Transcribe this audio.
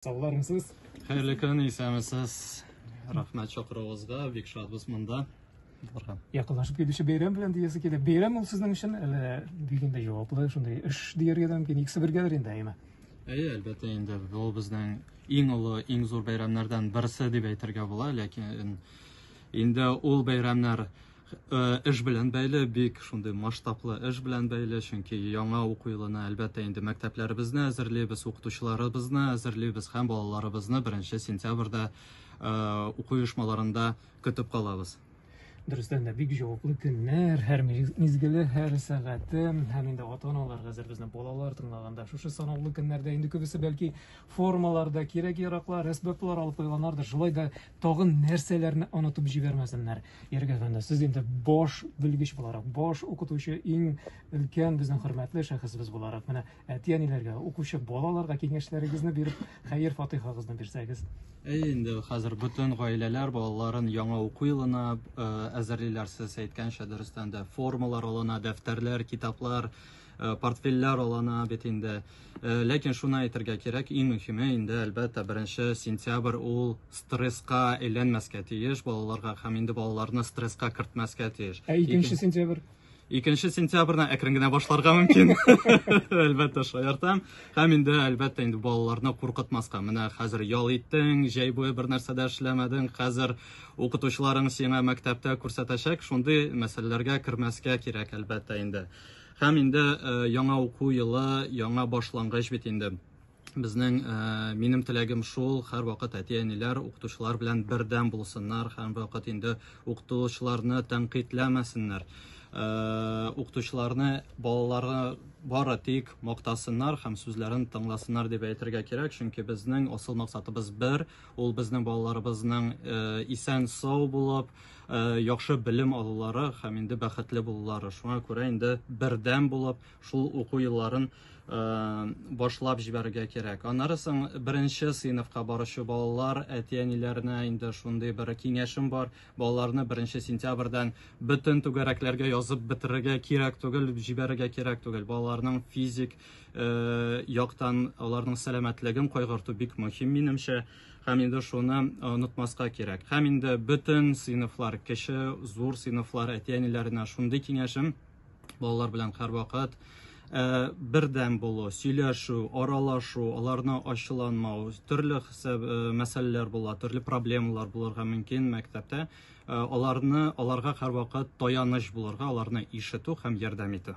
Саулармсыз? Хәерле көн, исәмесез. Рәхмәт чакыруыгызга, бик шатбыз монда. Барга. Якынлашып килүче бәйрәм белән диясе килә. Бәйрәм ул сезнең өчен әле бик инде җаваплы, шундый эш дияргә дә мөмкин. Икесе бергәдер инде, әйме? Әйе, әлбәттә инде ул безнең иң олы, иң зур бәйрәмнәрдән берсе дип әйтергә була, ләкин инде ул бәйрәмнәр эш белән бәйле, бик шундый масштаблы эш белән бәйле, чөнки яңа уку елына, әлбәттә, инде мәктәпләребезне әзерлибез, укытучыларыбызны әзерлибез һәм балаларыбызны беренче сентябрьдә уку оешмаларында көтеп калабыз. Дөрестән дә бик җаваплы көннәр, һәр мизгеле, һәр сәгате һәм инде ата-аналар хәзер безне балалар тыңлаганда шушы санаулы көннәрдә инде күбесе бәлки формаларда кирәк-яраклар, әсбаплар алып куйганнардыр, шулай да тагын нәрсәләрне онытып җибәрмәсеннәр. Ярик әфәнде, сез инде баш белгеч буларак, баш укытучы, иң өлкән безнең хөрмәтле шәхесебез буларак, менә әти-әниләргә, укучы балаларга киңәшләрегезне биреп, хәер-фатыйхагызны бирсәгез. Әй, инде хәзер бөтен гаиләләр балаларын яңа уку елына э, әзерлиләр, сез әйткәнчә, дөрестән дә формалар алына, дәфтәрләр, китаплар, Э, портфельләр алана бит инде э, ләкин шуны әйтергә кирәк иң мөһиме инде әлбәттә беренче сентябрь ул стрессқа әйләнмәскә тиеш балаларга һәм инде балаларны стрессқа кертмәскә тиеш ә икенче сентябрь икенче сентябрьне әкрен генә башларга мөмкин әлбәттә шаяртам һәм инде әлбәттә инде балаларны куркытмаска менә хәзер ял иттең җәй буе бер нәрсә дә эшләмәдең хәзер укытучыларың сиңа мәктәптә күрсәтәчәк шундый мәсьәләләргә кермәскә кирәк әлбәттә инде Һәм инде яңа уку елы, яңа башлангыч бит инде. Безнең минем теләгем шул, һәрвакыт әти-әниләр укытучылар белән бердәм булсыннар, һәрвакыт инде укытучыларны тәнкыйтьләмәсеннәр. Укытучыларны балалары бары тик мактасыннар һәм сүзләрен тыңласыннар дип әйтергә кирәк, чөнки безнең асыл максатыбыз бер, ул безнең балаларыбызның исән-сау булып, Э, яхшы белем алулары һәм инде бәхетле булулары. Шуңа күрә инде бердәм булып шул уку елларын э, башлап җибәрергә кирәк. Аннары соң беренче сыйныфка баручы балалар, әти-әниләренә инде шундый бер киңәшем бар. Балаларны беренче сентябрьдән бөтен түгәрәкләргә язып бетерергә кирәк түгел, җибәрергә кирәк түгел. Балаларның физик э, яктан аларның сәламәтлеген кайгырту бик мөһим минемчә. Э, Һәм инде шуны онытмаска кирәк. Һәм инде бөтен сыйныфлар, кеше, зур сыйныфлар, әти-әниләренә шундый киңәшем, балалар белән һәрвакыт Э, бердәм булу, сөйләшү, аралашу, аларны ачуланмау, төрле хисап э, мәсьәләләр була, төрле проблемалар булырга мөмкин мәктәптә. Э, аларны аларга һәрвакыт таяныч булырга, аларны ишетү һәм ярдәм итү.